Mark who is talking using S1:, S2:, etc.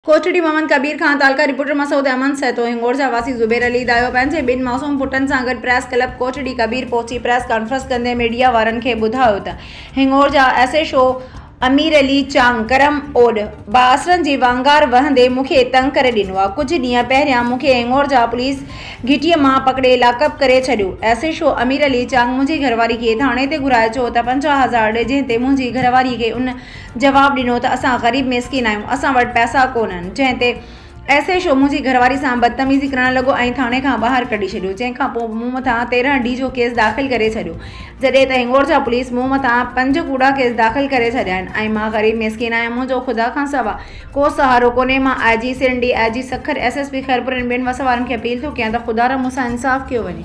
S1: ڪوٽڙي محمد ڪبير خان، تعلقه رپورٽر، مسعود احمد سهتو، هنگوڙ جا واسي زبير علي دايو پنهنجي ٻن معصوم پٽن سان گڏ پريس ڪلب ڪوٽڙي ڪبير پهچي پريس ڪانفرنس ڪندي ميڊيا وارن کي ٻڌايو ته هنگوڙ جا S H O Amir Ali Chang Karam Oad بااثرن جي وانگار وهندي مون کي تنگ ڪري ڏنو آهي ڪجهه ڏينهن پهريان مون کي هنگوڙ جا پوليس گهٽي مان پڪڙي لاڪ اپ ڪري ڇڏيو S H O Amir Ali Chang منهنجي گهرواري کي ٿاڻي تي گهرائي چيو ته پنجاهه هزار ڏي جنهن تي منهنجي گهرواري کي ان جواب ڏنو ته اسان غريب ميسڪين آهيون، اسان وٽ پئسا ڪونهن، جنهن تي ايس ايڇ او منهنجي گهرواري سان بدتميزي ڪرڻ لڳو ۽ ٿاڻي کان ٻاهر ڪڍي ڇڏيو، جنهن کان پوء مون مٿان تيرهن ڊي جو ڪيس داخل ڪري ڇڏيو، جڏهن ته هنڱورجا پوليس مون مٿان پنج ڪوڙا ڪيس داخل ڪري ڇڏيا آهن ۽ مان غريب ميسڪين آهيان، منهنجو خدا کان سوا ڪو سهارو ڪونهي، مان I G Sindh, D I G Sukkur, S S P Khairpur ۽ ٻين وس وارن کي اپيل ٿو ڪيان ته خدارا مون سان انصاف ڪيو وڃي.